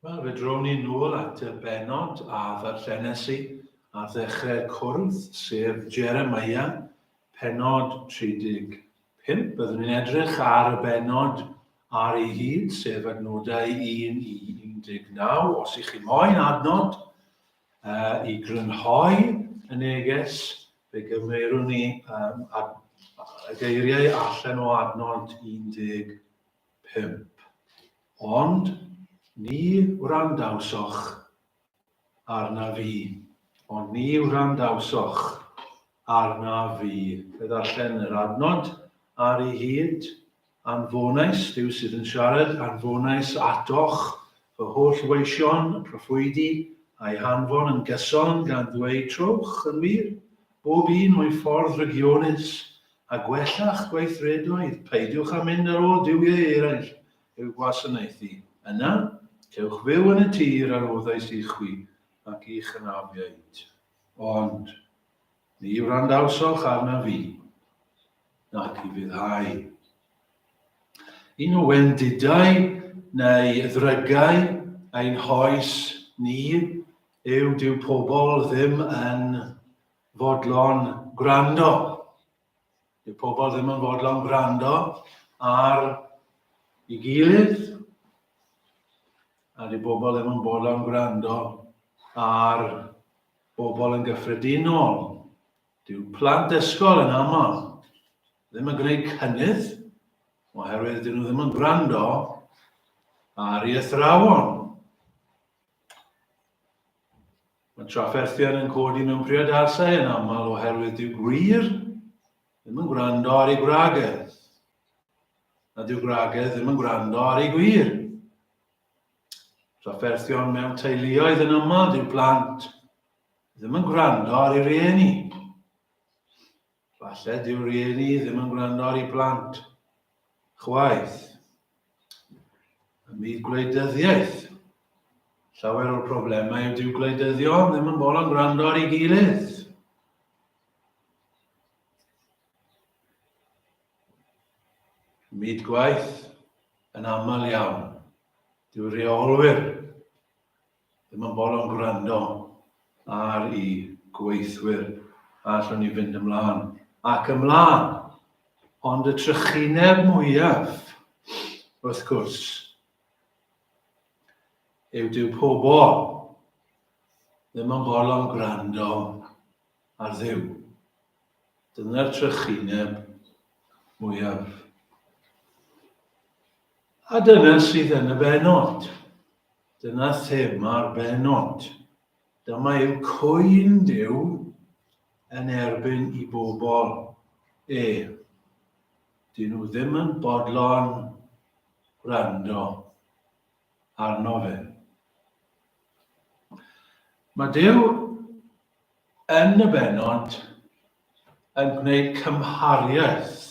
Wel, fe drwn ni nôl at y benod a ddarllenes i ar ddechrau'r cwrdd, sef Jeremiah, penod 35. Byddwn ni'n edrych ar y benod ar ei hyd, sef adnodau 1 i 19. Os ych chi moyn adnod, A i grynhoi y neges, fe gymerwn ni um, ad, y geiriau allan o adnod 15. Ond ni wrandawsoch arna fi. Ond ni wrandawsoch arna fi. Fe ddarllen yr adnod ar ei hyd. Anfonais, Duw sydd yn siarad, anfonais atoch fy holl weision proffwydi, a'i hanfon yn gyson, gan ddweud, Trowch, yn wir, bob un o'i ffordd rygionus, a gwella'ch gweithredoedd, peidiwch â mynd ar ôl duwiau eraill i'w gwasanaethu, yna, cewch fyw yn y tir a roddais i chwi ac i'ch anafiaid. Ond, Ni wrandawsoch arnaf fi, nac i fuddhau. Yn y wendidau neu ddrygau ein hoes ni yw dyw pobl ddim yn fodlon gwrando. Dyw pobl ddim yn fodlon gwrando ar ei gilydd, a dyw pobl ddim yn fodlon gwrando ar bobl yn gyffredinol, dyw plant ysgol yn aml ddim yn gwneud cynnydd oherwydd dyn nhw ddim yn gwrando ar ei athrawon. Mae trafferthion yn codi mewn priodasau yn aml oherwydd dyw gwir ddim yn gwrando ar ei gwragedd. A dyw gwragedd ddim yn gwrando ar ei gwir. Trafferthion mewn teuluoedd yn aml dyw plant ddim yn gwrando ar ei rieni. Falle dyw rieni ddim yn gwrando ar ei blant. Chwaith. Ym myd gwleidyddiaeth, llawer o'r problemau yw dyw gwleidyddion ddim yn bod yn gwrando ar ei gilydd. Myd gwaith yn aml iawn. Dyw reolwyr ddim yn bol o'n gwrando ar i gweithwyr a allwn ni fynd ymlaen ac ymlaen. Ond y trychineb mwyaf, wrth gwrs, yw dyw pobl ddim yn bol o'n gwrando a Dduw. Dyna'r trychineb mwyaf. A dyna sydd yn y benod. Dyna thema'r benod. Dyma yw cwyn Duw yn erbyn i bobl e. Dyn nhw ddim yn bodlon gwrando arno fe. Mae Duw Yn y bennod, yn gwneud cymhariaeth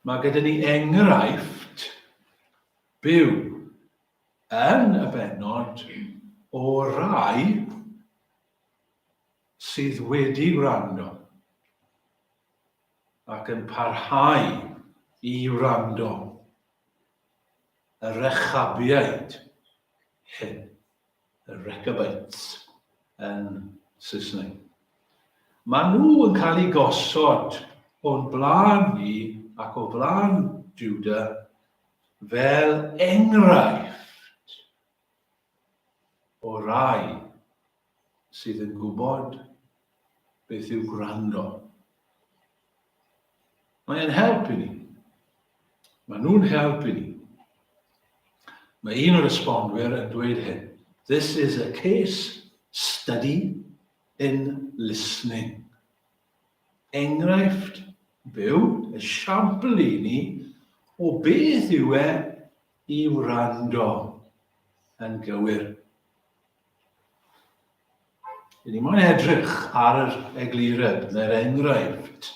Mae gyda ni enghraifft byw yn y bennod o rai sydd wedi gwrando ac yn parhau i wrando. Y Rechabiaid, hyn, y Rechabites yn Saesneg. Maen nhw yn cael eu gosod o'n blaen ni ac o flaen Juda fel enghraifft o rai sydd yn gwybod beth yw gwrando. Mae e'n help i ni. Mae nhw'n help i ni. Mae un o'r esbonwyr yn dweud hyn. This is a case study in listening. Enghraifft byw, esiampl i ni, o beth yw e i wrando yn gywir. Rydyn ni moyn edrych ar yr eglureb neu'r enghraifft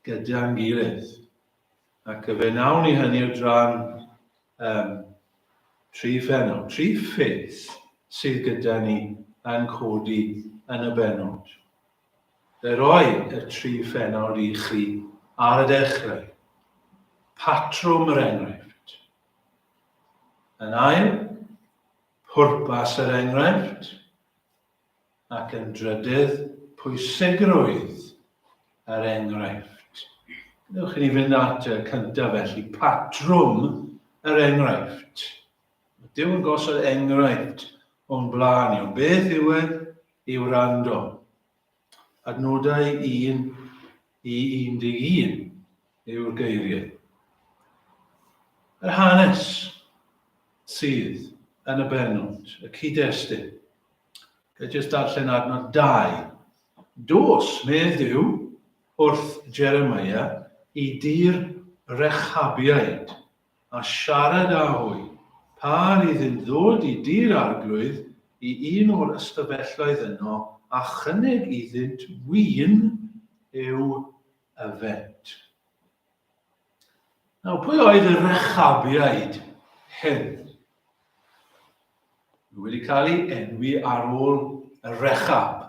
gyda'n gilydd. Ac y fe nawn ni hynny o dran um, tri phenod, tri ffith sydd gyda ni yn codi yn y benod. Fe roi y tri phennawd i chi ar y dechrau. Patrwm yr enghraifft. Yn ail, pwrpas yr enghraifft. Ac yn drydydd, pwysigrwydd yr enghraifft. Gwnewch i ni fynd at y cyntaf felly, patrwm yr enghraifft. Dim gosod enghraifft o'n blaen ni, ond beth yw e i wrando? Adnodau 1 i 11 yw'r geiriau. Yr hanes sydd yn y bennod, y cyd-destun. Gael jyst darllen adnod 2. Dos, medd Duw, wrth Jeremiah i dir Rechabiaid. a siarad â hwy, pa rydd yn ddod i Dŷ'r Arglwydd, i un o'r ystafelloedd yno, a chynnig iddynt win i'w yfed. Nawr, pwy oedd y Rechabiaid hyn? Nhw wedi cael ei enwi ar ôl y Rechab,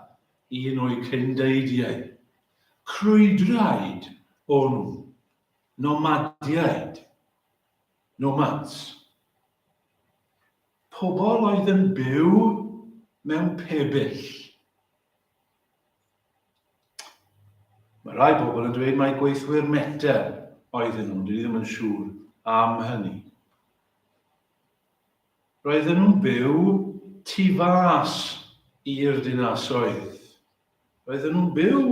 un o'i cyndeidiau. Crwydraid o'n nhw, Nomadiaid, nomads, pobl oedd yn byw mewn pebyll. Mae rhai pobl yn dweud mai gweithwyr Meta oedden nhw, dwi ddim yn siŵr am hynny. Roedden nhw'n byw tu fas i'r dinasoedd. Roedden nhw'n byw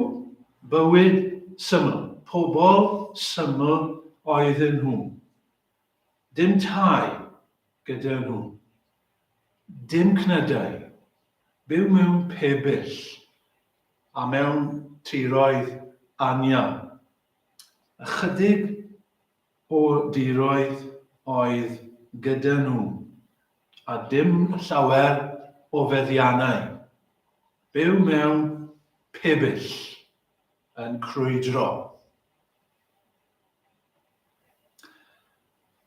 bywyd syml, pobl syml oedden nhw. Dim tai gyda nhw. Dim cnydau. Byw mewn pebyll a mewn tiroedd anial. Ychydig o diroedd oedd gyda nhw, a dim llawer o feddiannau. Byw mewn pibyll yn crwydro.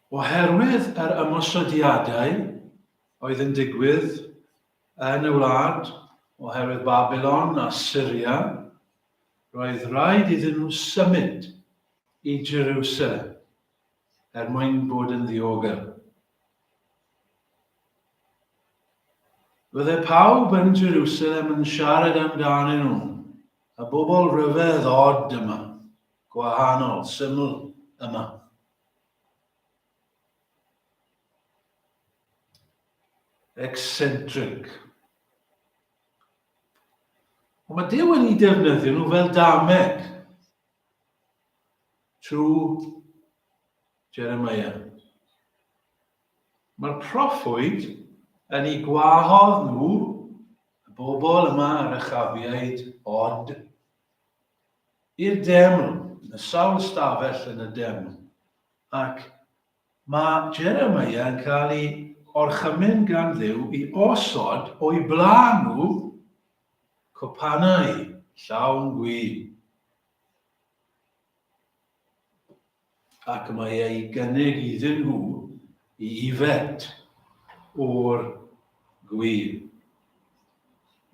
Oherwydd yr ymosodiadau oedd yn digwydd yn y wlad, oherwydd Babilon a Syria, Roedd rhaid iddyn nhw symud i Jerusalem er mwyn bod yn ddiogel. Bydde pawb yn Jerusalem yn siarad amdanyn nhw, y bobl rhyfedd od yma, gwahanol, syml yma. Eccentric. Ond mae Duw wedi defnyddio nhw fel dameg trwy Jeremiah. Mae'r proffwyd yn ei gwahodd nhw, y bobl yma, yr achafiaid, ond i'r deml, yn y sawl stafell yn y deml, ac Mae Jeremiah yn cael ei orchymyn gan Dduw i osod o'i blaen nhw copanau llawn gwin, ac mae e'i gynnig iddyn nhw i yfed o'r gwin.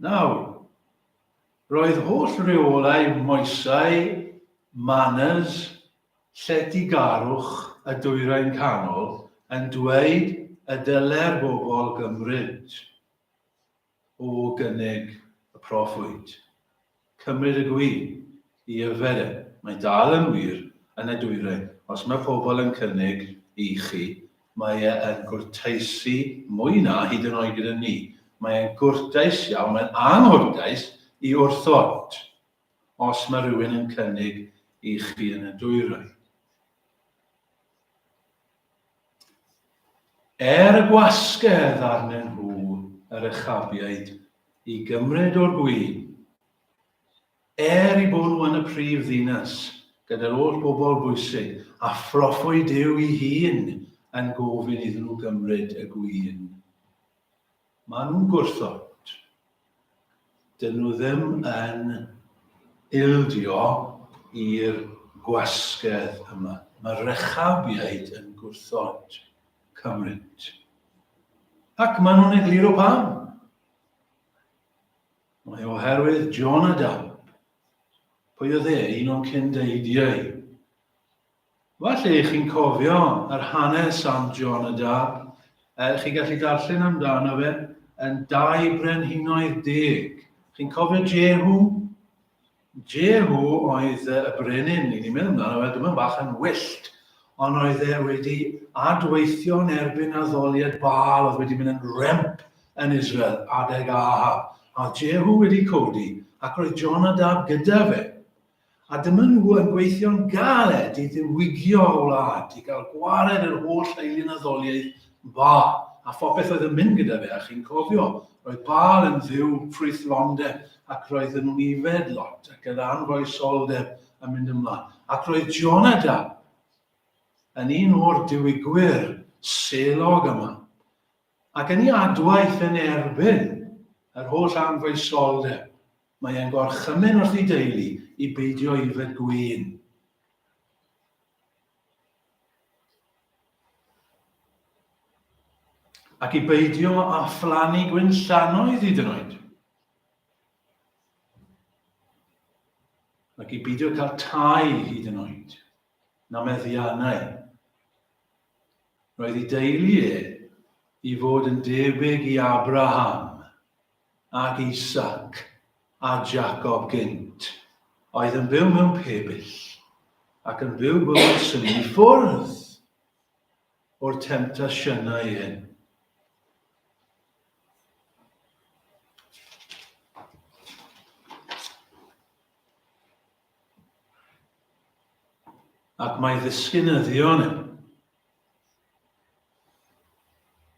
Nawr, roedd holl reolau moesau, manners, Lletygarwch y Dwyrain Canol yn dweud y dylai'r bobl gymryd o gynnig y proffwyd, cymryd y gwi i yfed e. Mae'n dal yn wir yn y dwyrain, os mae pobl yn cynnig i chi, mae e yn gwrteisi mwy na hyd yn oed gyda ni. Mae e'n gwrtais iawn, mae'n anghwrtais i wrthod. Os mae rhywun yn cynnig i chi yn y dwyrain. Er y gwasgedd arnyn nhw yr echabiaid i gymryd o'r gwin. Er i bwrw yn y prif ddinas, gyda'r oll bobl bwysig, a phroffwyd Duw i hun yn gofyn iddyn nhw gymryd y gwin. Maen nhw'n gwrthod. Dydyn nhw ddim yn ildio i'r gwasgedd yma. Mae'r Rechabiaid yn gwrthod cymryd. Ac maen nhw'n egluro pam. Mae oherwydd John a Dawb, pwy oedd e, un o'n cyn-deidiau, Falle i chi'n cofio yr hanes am John a Dab. Uh, chi gallu darllen amdano fe yn dau brenhinoedd deg. Chi'n cofio Jehu? Jehu oedd y brenin, ni'n ni'n meddwl amdano fe, dyma bach yn wyllt, ond oedd e wedi adweithio yn erbyn addoliad Baal oedd wedi mynd yn remp yn Israel adeg Ahab. A Jehu wedi codi, ac roedd John a Dab gyda fe. A dyma nhw yn gweithio'n galed i ddiwygio'r wlad, i gael gwared yr holl eilunaddoliaeth dda, a phopeth oedd yn mynd gyda fe, a chi'n cofio, roedd Baal yn dduw ffrwythlondeb, ac roedden nhw'n yfed lot, ac yr anfoesoldeb yn mynd ymlaen. Ac roedd Jonadab yn un o'r diwygwyr selog yma, ac yn ei adwaith yn erbyn yr holl anfoesoldeb, Mae e'n gorchymyn wrth ei deulu i beidio yfed gwin. Ac i beidio â phlannu gwyn llanoedd hyd yn oed. Ac i beidio cael tai hyd yn oed. Na meddiannau. Roedd ei deulu e i fod yn debyg i Abraham, ag Isaac a Jacob gynt, oedd yn byw mewn pebyll, ac yn byw bywyd sy'n i ffwrdd o'r temptasiynau hyn. Ac mae ddisgynyddion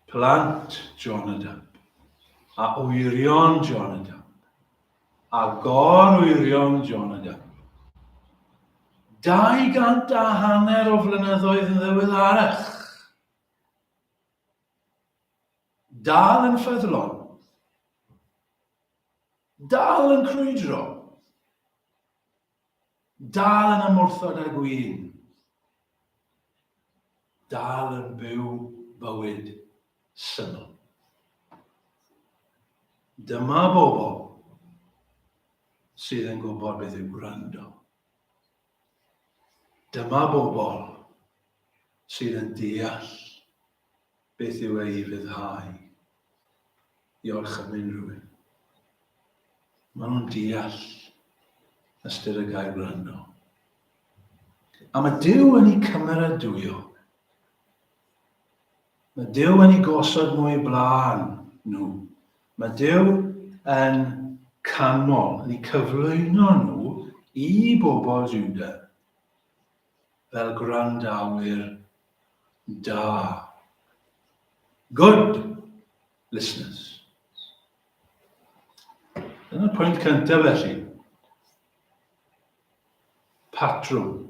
Plant Jonadab, a wyrion Jonadab, a gor-wyrion Jonadab. Dau gant a hanner o flynyddoedd yn ddiweddarach. Dal yn ffyddlon. Dal yn crwydro. Dal yn ymwrthod â gwin. Dal yn byw bywyd syml. Dyma bobl sydd yn gwybod beth yw gwrando. Dyma bobl sydd yn deall Beth yw e i ryddhau? Diolch am unrhyw un. Maen nhw'n deall ystyr y gair wrando. A mae Dyw yn ei cymeradwyo. Mae Dyw yn ei gosod nhw i blaen nhw. Mae Dyw yn canmol, yn ei cyflwyno nhw i bobl Juda. fel gwrandawyr da. Good listeners. Dyna pwynt cyntaf felly. Patrwm,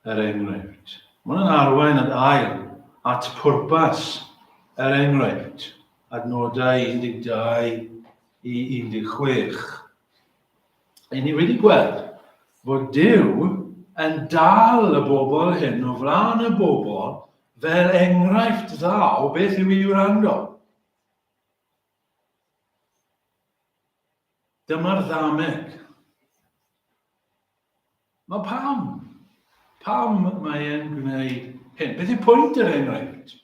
er enghraifft. Mae'n yn arwain at ail, at pwrpas, er enghraifft, adnodau 12 i 16. Ry'n ni wedi gweld fod Duw yn dal y bobl hyn o flaen y bobl fel enghraifft dda o beth yw i wrando. Dyma'r ddameg. Mae pam? Pam mae e'n gwneud hyn? Beth yw pwynt yr enghraifft?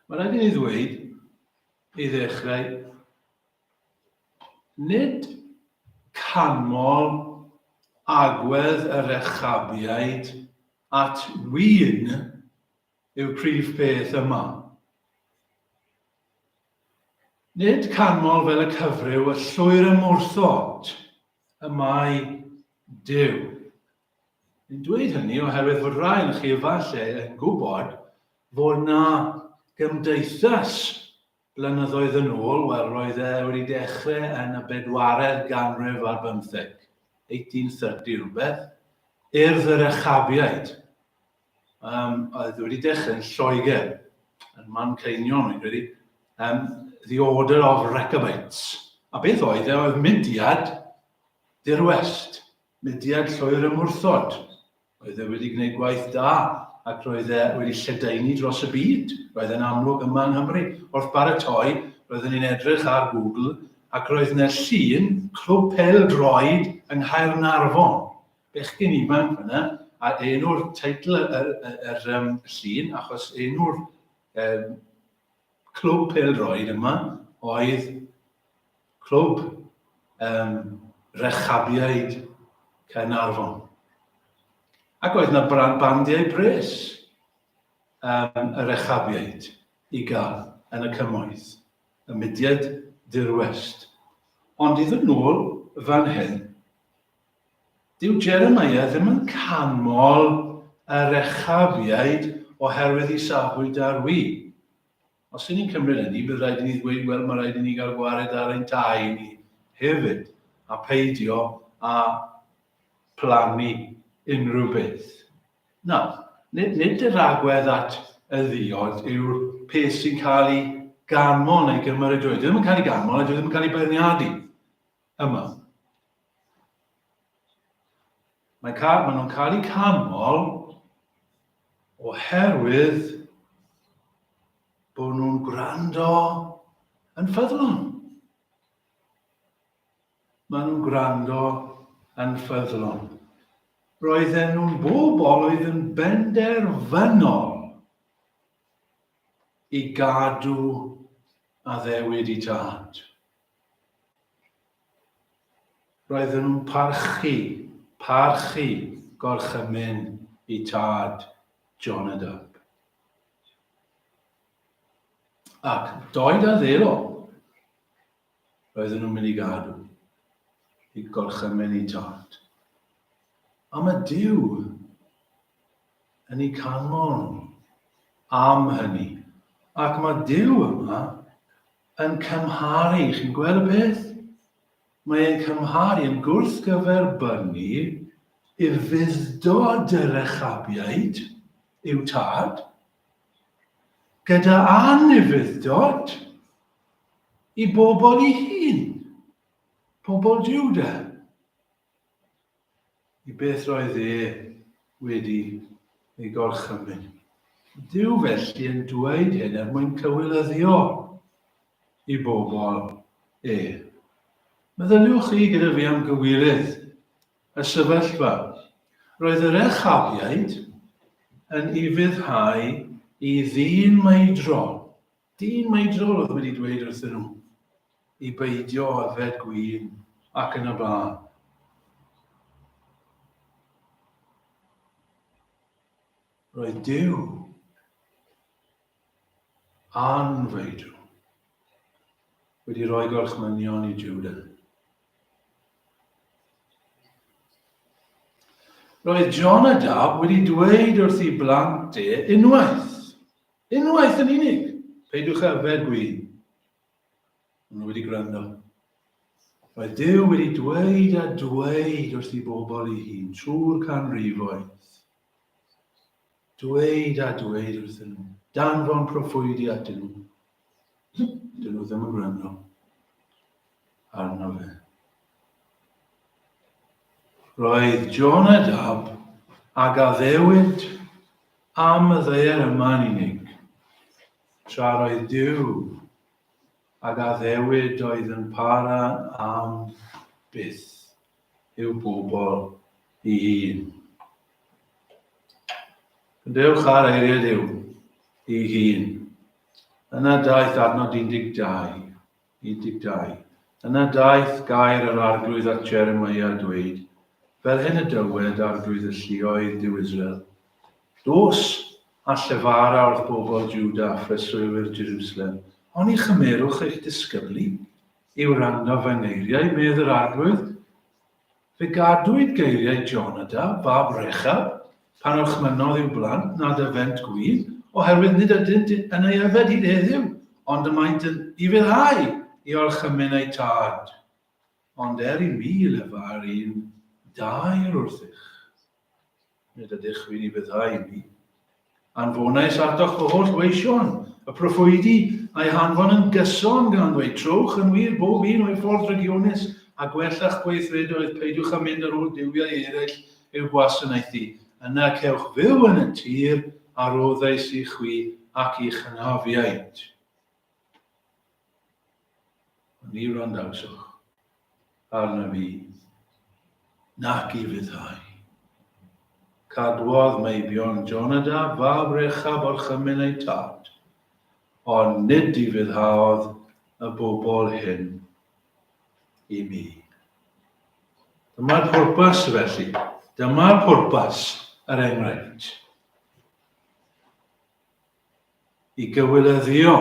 Mae'n rhaid i ni ddweud, i ddechrau, nid canmol agwedd y Rechabiaid at ŵyn yw'r prif beth yma. Nid canmol fel y cyfryw y llwyr ymwrthod y mae Duw. Yn dweud hynny oherwydd fod rhai ohonoch chi efallai yn gwybod fod 'na gymdeithas blynyddoedd yn ôl, wel roedd e wedi dechrau yn y bedwaredd ganrif ar bymtheg, 1830 rhywbeth, Urdd yr Echabiaid, um, oedd wedi dechrau yn Lloegr, yn Manceinion, fi'n credu, um, The Order of Rechabites. A beth oedd e? Oedd mudiad dirwest. Mudiad Llwyr Ymwrthod. Roedd e wedi gwneud gwaith da ac roedd e wedi lledaenu dros y byd. Roedd e'n amlwg yma yng Nghymru. Wrth baratoi, roeddwn i'n edrych ar Google ac roedd 'na llun clwb pêl-droed yng Nghaernarfon. Bechgyn ifanc fan'na, a enw'r teitl y, y, y, yr um, llun, achos enw'r um, clwb pêl-droed yma oedd Clwb um, Rechabiaid Caernarfon. Ac oedd yna bandiau bres um, y Rechabiaid i gael yn y cymoedd, y mudiad dirwest. Ond i ddod nôl fan hyn, dyw Jeremiah ddim yn canmol y Rechabiaid oherwydd i safbwynt ar wy. Os y'n ni'n cymryd hynny, bydd rhaid i ni ddweud, wel, mae rhaid i ni gael gwared ar ein tai ni hefyd, a peidio â phlannu unrhyw beth. Nawr, nid, nid yr agwedd at y ddiod yw'r peth sy'n cael ei ganmol neu gymeradwyo. Dwi ddim yn cael ei ganmol a dwi ddim yn cael ei beirniadu. yma. Mae cael, maen nhw'n cael eu canmol oherwydd bod nhw'n gwrando yn ffyddlon. Maen nhw'n gwrando yn ffyddlon. Roedden nhw'n bobl oedd yn benderfynol i gadw addewid i tad. Roedden nhw'n parchu, parchu gorchymyn eu tad, Jonadab. Ac doed a ddelo, roedden nhw'n mynd i gadw i gorchymyn eu tad. A mae Dyw yn ei canmol nhw am hynny. Ac mae Dyw yma yn cymharu, chi'n gweld y peth? Mae e'n cymharu yn gwrthgyferbynnu i'r fuddod y Rechabiaid, i'w tad, gyda anufuddod i bobl i hun, pobl Juda. i beth roedd e wedi ei gorchymyn. Dyw felly yn dweud hyn er mwyn cywilyddio i bobl e. Meddyliwch chi gyda fi am gywilydd y sefyllfa. Roedd yr echafiaid yn ufuddhau i ddyn maedro Dyn maedrol oedd wedi dweud wrthyn nhw i beidio â yfed gwin ac yn y blaen. Roedd Duw a'n feidw wedi rhoi gorchmynion i Juda. Roedd Jonadab wedi dweud wrth ei blant e unwaith, Unwaith yn unig! Peidiwch â yfed gwin! Maen nhw wedi gwrando. Roedd Duw wedi dweud a dweud wrth ei bobl ei hun trwy'r canrifoedd. Dweud a dweud wrth nhw, danfon proffwydi atyn nhw. Dyn nhw ddim yn gwrando. arno fe. Roedd Jonadab a gaddewyd am y ddaear yma'n unig, tra roedd Dyw a gaddewyd oedd yn para am byth i'w bobl i hun. Dewch ar eiriau Dyw i hun. Yna daeth adnod 12. 12. Yna daeth gair yr Arglwydd at Jeremia, dweud, Fel hyn y dywed Arglwydd y lluoedd, Duw Israel, Dos a llefara wrth bobl Juda a phreswylwyr Jerusalem, oni chymerwch eich disgyblu i wrando fy ngeiriau, medd yr Arglwydd, Fe gadwyd geiriau Jonada, fab Rechab, pan orchmynnodd i'w blant nad yfent gwydd, oherwydd nid ydynt yn ei yfed hyd heddiw, ond y maent yn ufuddhau i orchymyn eu tad. Ond er i mi lefa'r un daer wrthych. Nid ydych fi'n ei fyddhau i mi. Anfonais atoch fy holl weision, y proffwydi a'i hanfon yn gyson gan ddweud trowch yn wir bob un o'i ffordd drygionus a gwella'ch gweithredoedd, peidiwch â mynd ar ôl duwiau eraill i'w gwasanaethu, yna cewch fyw yn y tir a roddais i chwi ac i'ch hynafiaid. Ni wrandawswch arna fi, nac i ryddhau. Cadwodd meibion Jonadab fab Rechab orchymyn eu tad, ond nid i ryddhaodd y bobl hyn i mi. Dyma'r pwrpas felly. Dyma'r pwrpas, yr enghraifft. i gywireddio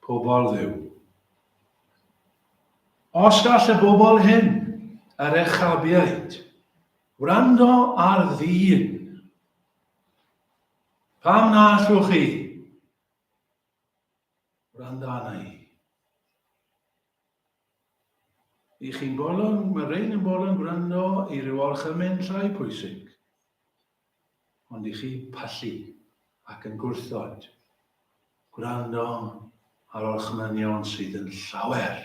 pobl Dduw. Os gall y bobl hyn, y Rechabiaid, wrando ar ddyn, pam na allwch chi wrando arna i? I chi'n bolon, mae rhain yn bolon gwrando i ryw orchymyn llai pwysig. ond i chi pallu ac yn gwrthod gwrando ar orchmynion sydd yn llawer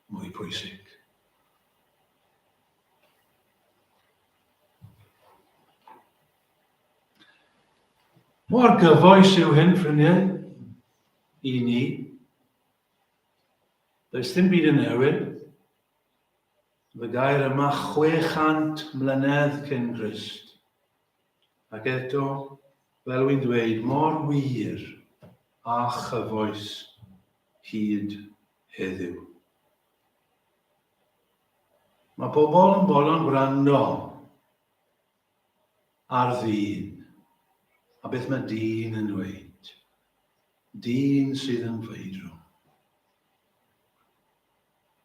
mwy pwysig. Mor gyfoes yw hyn, ffrindiau, i ni. Does dim byd yn newid. Y gair yma 600 mlynedd cyn Grist. Ac eto, fel wy'n dweud, mor wir a chyfoes hyd heddiw. Mae pobl yn bolon gwrando Ar ddyn. A beth mae dyn yn dweud? Dyn sydd yn feidrwm.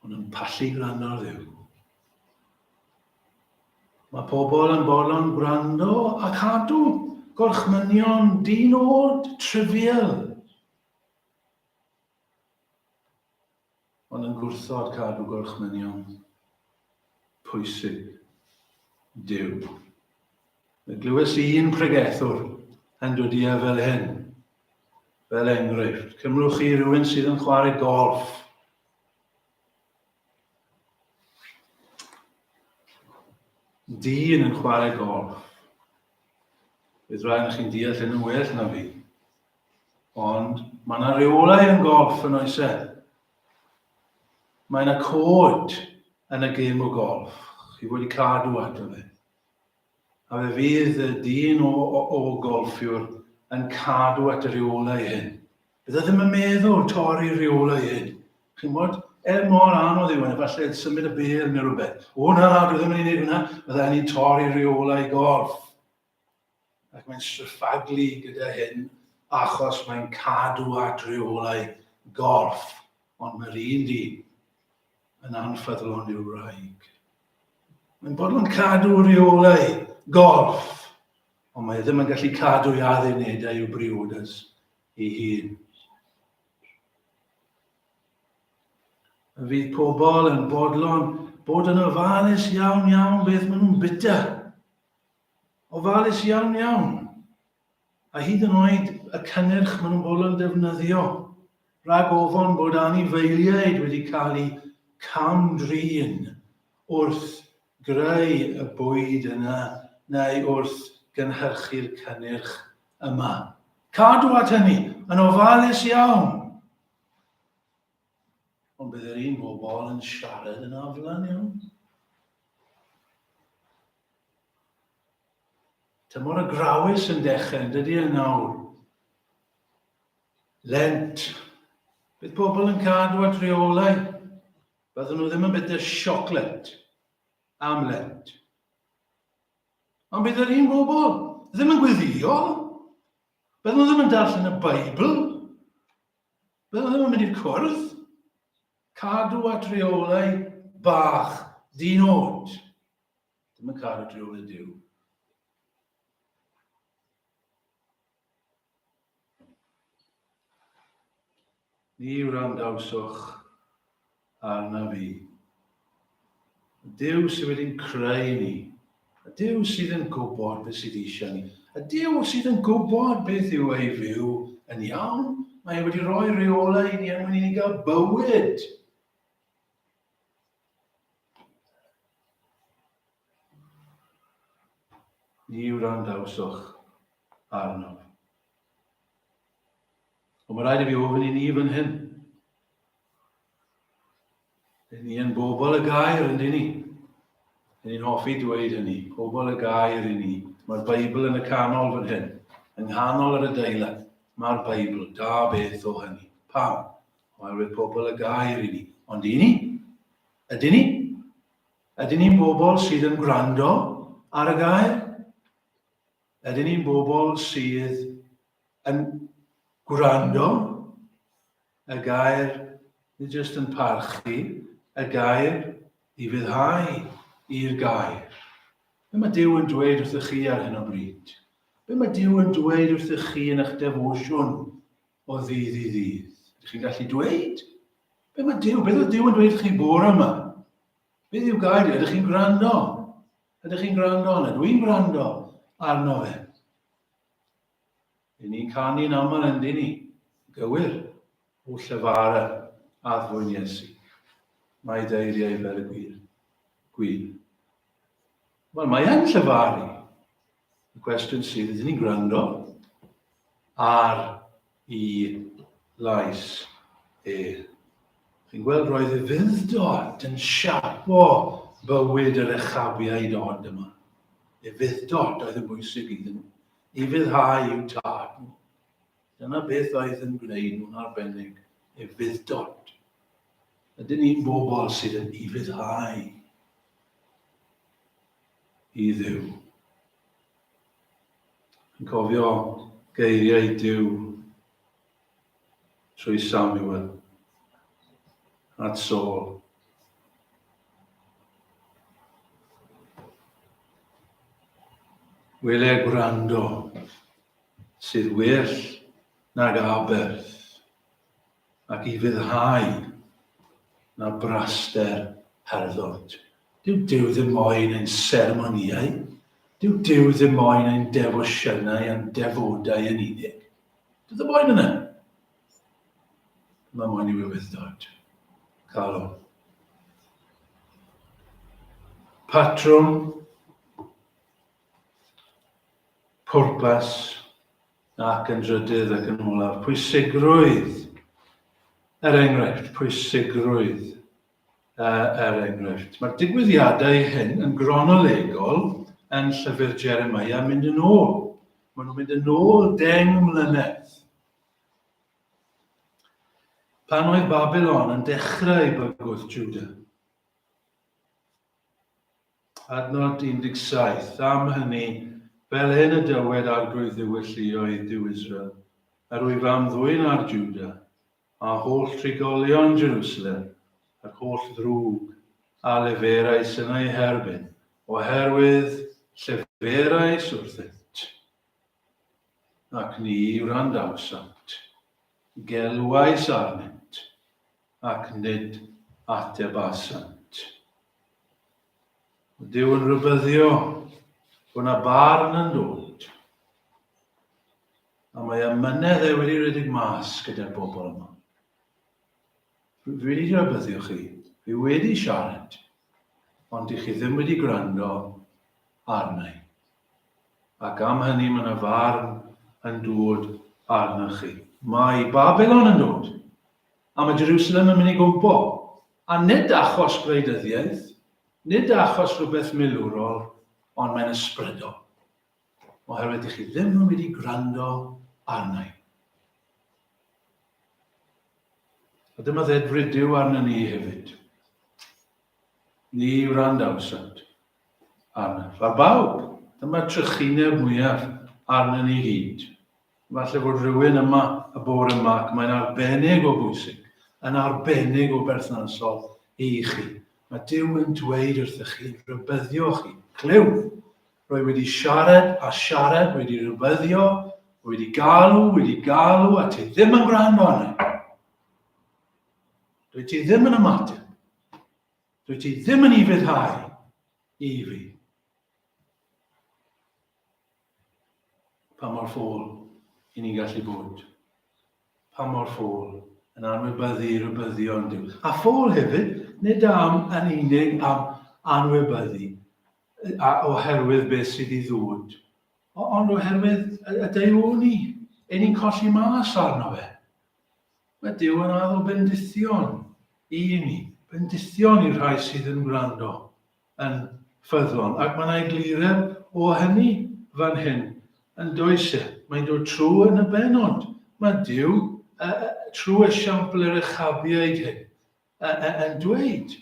Ond yn pallu gwrando ddiw. Mae pobl yn bolon gwrando a cadw gorchmynion dyn od, trivial. Ond yn gwrthod cadw gorchmynion pwysig Duw. Y glywes i un pregethwr yn dod i fel hyn. Fel enghraifft, cymrwch chi rhywun sydd yn chwarae golf. Dyn yn chwarae golf. Bydd rhaid chi'n deall yn well na fi. Ond mae yna reolau yn golff yn oes e? Mae yna cod yn y gêm o golff. Chi wedi cadw ato fe. A fe fydd y dyn o, o, o golffiwr yn cadw at y reolau hyn. Bydde ddim yn meddwl torri reolau hyn. Chi'n bod? Er mor anodd yw hyn, efallai symud y bel neu rhywbeth. O na, dwi ddim yn ei wneud hwnna. Bydde hynny'n torri reolau golff. ac mae'n sefydlu gyda hyn achos mae'n cadw at reolau gorff, ond mae'r un dyn yn anffyddlon i'w wraig. Mae'n bodlon cadw reolau gorff, ond mae ddim yn gallu cadw i addunedau i'w briodas ei hun. Y fydd pobl yn bodlon bod yn ofalus iawn iawn beth maen nhw'n bita ofalus iawn iawn, a hyd yn oed y cynnyrch maen nhw'n bod yn defnyddio, rhag ofon bod anifeiliaid wedi cael eu cam-drin wrth greu y bwyd yna neu wrth gynhyrchu'r cynnyrch yma. Cadw at hynny, yn ofalus iawn. Ond bydd yr un bobl yn siarad yn aflan iawn. Tymor y grawys yn dechrau, yn dydy yn nawr? Lent. Bydd pobl yn cadw at reolau. Byddwn nhw ddim yn bydder siocled am lent. Ond bydd yr un bobl ddim yn gweddio. Byddwn nhw ddim yn darllen y Beibl. Byddwn nhw ddim yn mynd i'r cwrdd. Cadw at reolau bach dynod. Dim yn cael y driw i Duw. Ni wrandawswch arna fi. Y Duw sydd wedi'n creu ni, y Duw sydd yn gwybod beth sydd eisiau ni, y Duw sydd yn gwybod beth yw ei fyw yn iawn, mae e wedi rhoi reolau i ni er mwyn i ni gael bywyd. Ni wrandawsoch arno. Ond mae rhaid i fi ofyn i ni fan hyn. Rydyn ni yn bobl y gair yn dyn ni. Rydyn ni'n hoffi dweud hynny, pobl y gair i ni. Mae'r Beibl yn y canol fan hyn, yng nghanol yr adeilad. Mae'r Beibl, da beth o hynny. Pam? Oherwydd pobl y gair i ni. Ond i ni? Ydyn ni? Ydyn ni'n bobl sydd yn gwrando ar y gair? Ydyn ni'n bobl sydd yn gwrando y gair, nid jyst yn parchu y gair i fyddhau i'r gair. Be mae Dyw yn dweud wrthych chi ar hyn o bryd? Be mae Dyw yn dweud wrthych chi yn eich defosiwn o ddydd i ddydd. Ydych chi'n gallu dweud? Be mae Dyw, beth oedd Dyw yn dweud chi bore yma? Beth yw gair? Ydych chi'n gwrando? Ydych chi'n gwrando arno? Dw i'n gwrando arno fe. Dyn ni'n canu'n aml yn dyn ni. Gywir, o llyfara a ddwyn Iesu. Mae deiriau fel y gwir. Gwir. Wel, mae e'n llyfaru. y cwestiwn sydd, ydyn ni'n gwrando ar i lais e. Chi'n gweld roedd y fuddod yn siapo bywyd yr echafiau dod yma. Y fuddod oedd yn bwysig iddyn nhw. I fuddhau i'w tad nhw. Dyna beth oedd yn gwneud nhw'n arbennig. Y fuddod. Ydyn ni'n bobl sydd yn i fuddhau i Dduw. Yn cofio geiriau Duw trwy Samuel at Saul. Wele gwrando sydd well nag aberth. Ac i fyddhau na braster herddwt. Dyw Duw ddim moyn ein seremonïau, dyw Duw ddim moyn ein defosiynau a'n defodau yn unig. Dyw ddim moyn yna. Mae moyn i wywyddod. Calw. Patrwm. Pwrpas. Ac yn drydydd ac yn olaf, pwysigrwydd, er enghraifft, pwysigrwydd, uh, er enghraifft. Mae'r digwyddiadau hyn yn gronolegol yn llyfr Jeremiah mynd yn ôl. Maen nhw'n mynd yn ôl deng mlynedd. Pan oedd Babylon yn dechrau bygwth Judah, Adnod 17, Am hynny, fel hyn y dywed Arglwydd Dduw y lluoedd, Duw Israel, Yr wyf am ddwyn ar Juda, a holl drigolion Jerusalem, yr holl ddrwg a leferais yn eu herbyn, oherwydd lleferais wrthynt, ac ni wrandawsant, gelwais arnynt, ac nid atebasant. Ond Duw yn rybyddio bod yna barn yn dod. A mae amynedd e wedi rhedeg mas gyda'r bobl yma. Dwi wedi rybyddio chi, fi wedi siarad, ond i chi ddim wedi gwrando arna i. Ac am hynny mae yna farn yn dod arna chi. Mae Babylon yn dod. A mae Jerusalem yn mynd i gwmpo. A nid achos gwleidyddiaeth, nid achos rhywbeth milwrol, ond mae'n ysbrydol. Oherwydd ydych chi ddim yn wedi gwrando arna i. A dyma dded rydyw arna ni hefyd. Ni wrandawsant arna. Ar bawb, dyma trychineb mwyaf arna ni gyd. Falle bod rhywun yma y bore yma ac mae'n arbennig o bwysig, yn arbennig o berthnasol i chi. Mae Duw yn dweud wrthych chi, rybyddio chi. Clyw! Rwy wedi siarad a siarad, wedi rybyddio, wedi galw, wedi galw, a ti ddim yn gwrando arna. Dwi ti ddim yn ymateb. Dwi ti ddim yn ufuddhau i fi. Pa mor ffôl i ni'n gallu bod? Pa mor ffôl yn anwybyddu i rybyddion Duw? A ffôl hefyd, nid am yn unig am anwybyddu a oherwydd beth sydd i ddod, ond oherwydd y deuoni, ein ni'n colli mas arno fe. Mae Duw yn addo bendithion i ni, bendithion i'r rhai sydd yn gwrando. yn ffyddlon. Ac mae yna egluredd o hynny fan hyn, yn does e? Mae'n dod trwy yn y benod. Mae Dyw, uh, uh, trwy esiampl yr echabiaid hyn, uh, uh, yn dweud,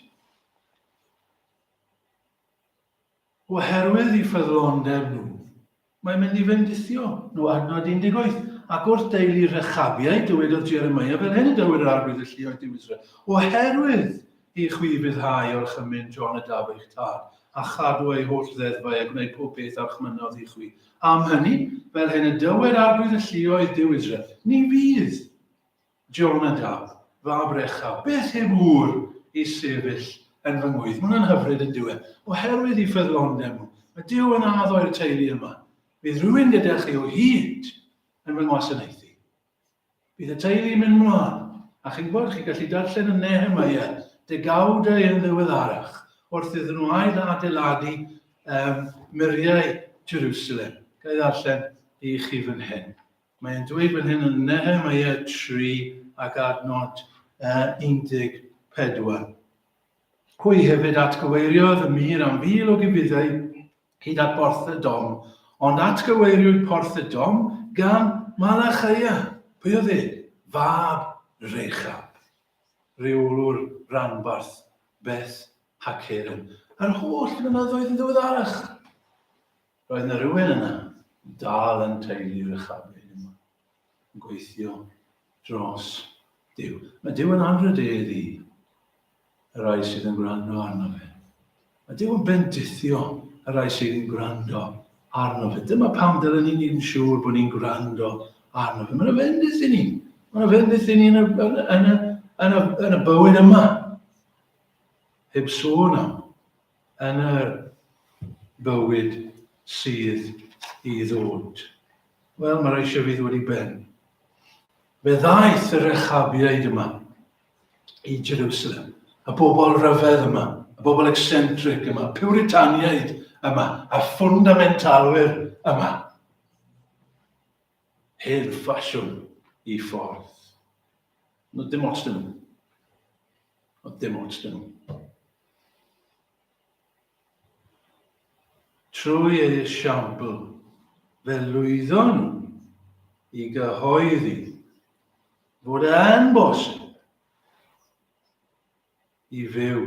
oherwydd i ffyddlondeb nhw, Mae'n mynd i fendithio nhw, adnod 18. Ac wrth deulu Rechabiaid, dywedodd Jeremiah, fel hyn y dywed yr arwydd y lluoedd Duw Israel, oherwydd i chwi ryddhau orchymyn John y daf eich tad, a chadw ei holl ddeddfau a gwneud pob peth a chmynodd i chwi. Am hynny, fel hyn y dywed arwydd y lluoedd Duw Israel, ni fydd Jonadab, fab Rechab, beth yw mur i sefyll yn fy ngwydd? Mae hwnna'n hyfryd yn dyw e. Oherwydd i ffyddlondeb nhw. Mae Dyw yn addo i'r teulu yma. Bydd rhywun gyda chi o hyd yn fy ngwasanaethu. Bydd y teulu yn mynd mlaen. A chi'n gwybod, chi'n gallu darllen yn Nehemiah, degawdau yn ddiweddarach, wrth iddyn nhw ail adeiladu um, muriau Jerusalem. Gael ei ddarllen i chi fan hyn. Mae'n dweud fan hyn yn Nehemia 3 ac adnod uh, 14. Hwy hefyd atgyweiriodd y mir am fil o gibidau hyd at Borth y Dom, ond atgyweiriwyd Porth y Dom gan Malachaia. Pwy oedd e? Fab Rechab rheolwr ranbarth Beth Haceren. A'r holl flynyddoedd yn ddiweddarach. Roedd yna rywun yna i dal yn teulu'r uchafbyn yma, yn gweithio dros Dyw. Mae Dyw yn anrhydedd i y rai sydd yn gwrando arno fe. Mae Dyw yn bendithio y rai sydd yn gwrando arno fe. Dyma pam dylen ni'n ni'n siŵr bod ni'n gwrando arno fe. Mae'n ofendus i ni. Mae'n ofendus i ni yn y, yn, yn, y, yn, y, yn y bywyd yma. Heb sôn am yn y bywyd sydd i ddod. Wel, mae'r eisiau fi ddod i ben. Fe ddaeth yr echabiaid yma i Jerusalem, y bobl rhyfedd yma, y bobl eccentric yma, puritaniaid yma, a ffundamentalwyr yma. Hen ffasiwn i ffordd. No, dim os dyn nhw. Ond dim ots dyn nhw. Trwy eu siambl, fe lwyddon nhw i gyhoeddi fod yn bosib i fyw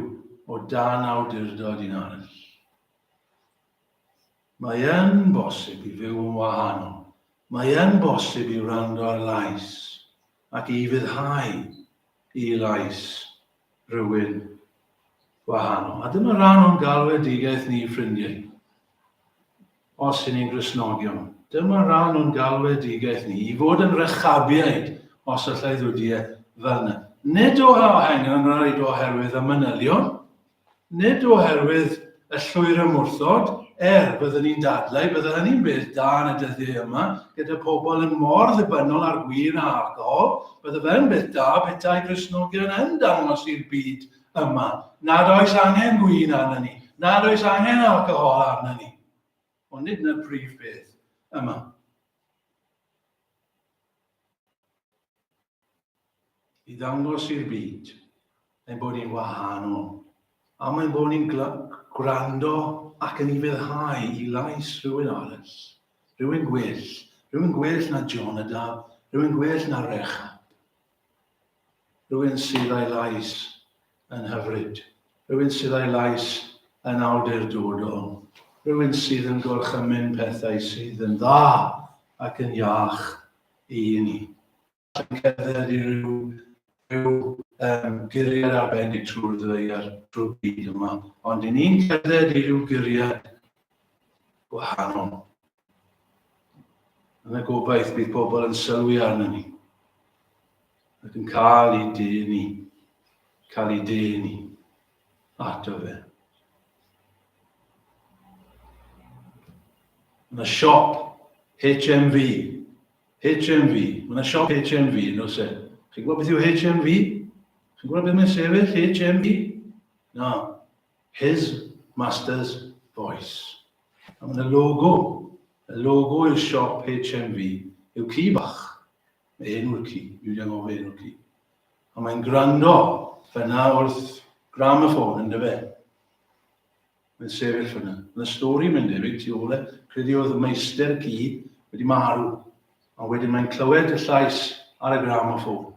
o dan awdurdod un arall. Mae yn bosib i fyw yn wahanol. Mae yn bosib i wrando ar lais ac i fuddhau i lais rhywun wahanol. A dyma ran o'n galwedigaeth ni, ffrindiau. Os yn ni'n Gristnogion, dyma ran o'n galwedigaeth ni, i fod yn rechabiaid, os allai ddwdiau fel yna. Nid o hahengan rhaid oherwydd y manylion, Nid oherwydd y llwyr ymwrthod, er, byddwn i'n dadlau, byddai hynny'n beth da yn y dyddiau yma, gyda pobl yn mor ddibynnol ar win a alcohol, byddai fe'n beth da petai Gristnogion yn dangos i'r byd yma nad oes angen gwin arnon ni, nad oes angen alcohol arnon ni. Ond nid yna'r prif beth yma. i ddangos i'r byd ein bod ni'n wahanol, am ein bod ni'n gwrando ac yn ufuddhau i lais rhywun arall, rhywun gwell, rhywun gwell na Jonadab, rhywun gwell na Rechab, rhywun sydd a'i lais yn hyfryd, rhywun sydd a'i lais yn awdurdodol, rhywun sydd yn gorchymyn pethau sydd yn dda ac yn iach i ni. Yn cerdded i ryw, ryw um, guriad arbennig trwy'r ddaear, trwy'r byd yma, ond i ni'n cerdded i ryw guriad gwahanol. Yn y gobaith bydd pobl yn sylwi arno ni ac yn cael ei dyn ni, cael ei dyn ni ato fe. Mae yna siop HMV, HMV, mae yna siop HMV yn oes e? Chi'n gwybod beth yw HMV? Chi'n gwybod beth mae'n sefyll HMV? Na, His Master's Voice. A mae yna logo. Y logo i'r siop HMV yw ci bach. Mae enw'r ci, mi wedi anghofio enw'r ci. A mae'n gwrando fyna wrth gram y ffôn yn dyfe. Mae'n sefyll fyna. Mae'n y stori mynd debyg ti ôl e. Credu oedd y meistr ci wedi marw. A wedyn mae'n clywed y llais ar y gram o ffôn.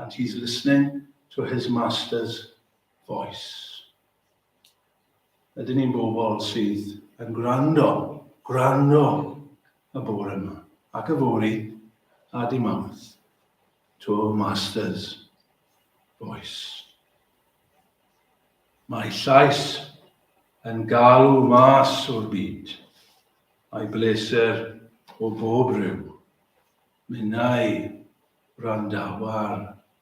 And he's listening to his master's Voice. Ydyn ni'n bobl sydd yn gwrando, gwrando y bore yma, ac y fori, a di mawrth, to Masters Voice. Mae llais yn galw mas o'r byd. Mae bleser o bob rhyw. Minnau randawa'r